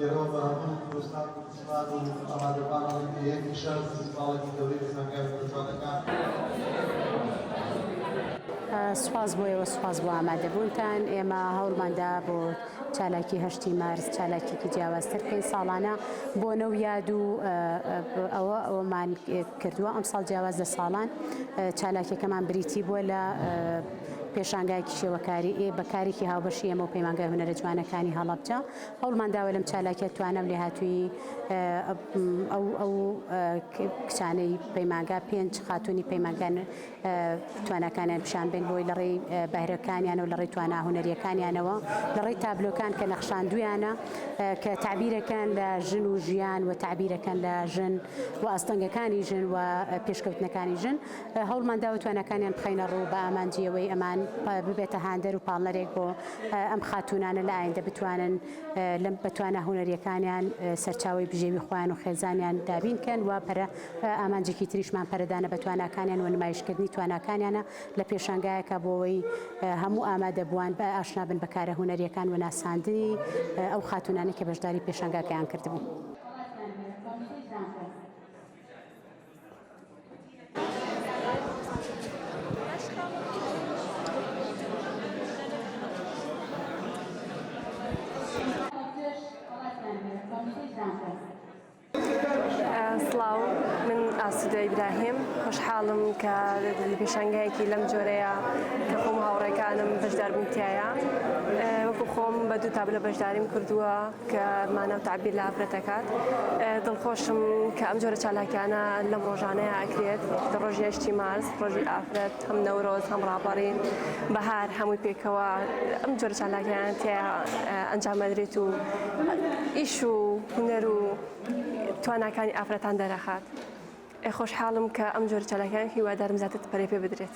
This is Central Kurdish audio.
ئێمە بە هەموو کوردستان و کوردستان و ئامادەبان ئەڵێن کە یەکێ شەر فیستیڤاڵێکی گەورەی لە زانیار و پەرجوانەکان سوپاس بۆ ئێوە سوپاس بۆ ئامادەبوونتان ئێمە هەوڵماندا بۆ چالاکی هەشتی مارس چالاکیکی جیاوازتر کەین ساڵانە بۆ نەو یاد و ئەوە ئەومان کردووە ئەم ساڵ جیاواز لە ساڵان چالاکیەکەمان بریتی بووە لە پێشانگای کشێوەکاری ئێ بە کارێکی هاوبەشی ئێمە و پەیمانگای هونەرە جوانەکانی هەڵەبجە هەوڵمان داوە لەم چالاکیە توانە و لێهاتوویی ئەو ئەو کچانەی پەیمانگا پێنج خاتوونی پەیمانگان تواناکانیان پیشان بێن بۆی لە ڕێی بەهرەکانیان و لە ڕێی توانا هونەریەکانیانەوە لە ڕێی تابلۆکان کە نەخشاندویانە کە تعبیرەکان لە ژن و ژیان و تعبیرەکان لە ژن و ئاستەنگەکانی ژن و پێشکەوتنەکانی ژن هەوڵمان داوە تواناکانیان بخەینە ڕوو بە ئامانجی ئەوەی ئەمان ببێتە هاندەر و پاڵنەرێک بۆ ئەم خاتوونانە لە ئایندە بتوانن لەم بەتوانە هونەریەکانیان سەرچاوی بژێوی خۆیان و خێزانیان دابین کەن و پەرە ئامانجێکی تریشمان پەرەدانە بە تواناکانیان و نمایشکردنی تواناکانیانە لە پێشانگایەکە بۆەوەی هەموو ئامادەبووان بە ئاشنابن بە کارە هونەریەکان و ناساندنی ئەو خاتوونانی کە بەشداری پێشانگاکەیان کردبوو. سڵاو من ئاسودە ئیبراهیم خۆشحاڵم کە پێشنگایەکی لەم جۆرەیە کە خۆم هاوڕێکانم بەشداربووتایە وەکو خۆم بە دوو تابلە بەشداریم کردووە کە مانا و تەعبیر لە ئافرەت دەکات. دڵخۆشم کە ئەم جۆرە چالاکیانە لەم ڕۆژانەیا ئەکرێت، کە ڕۆژی هەشتی مارس، ڕۆژی ئافرەت، هەم نەورۆز، هەم ڕاپەڕین، بەهار هەمووی پێکەوە ئەم جۆرە چالاکیانە تێیا ئەنجام ئەدرێت و ئیش و هونەر و تواناکانی ئافرەتان دەرەخات. ئەی خۆشحاڵم کە ئەم جۆرە چالاکیان هیوادارم زیاتر پەرەی پێ بدرێت.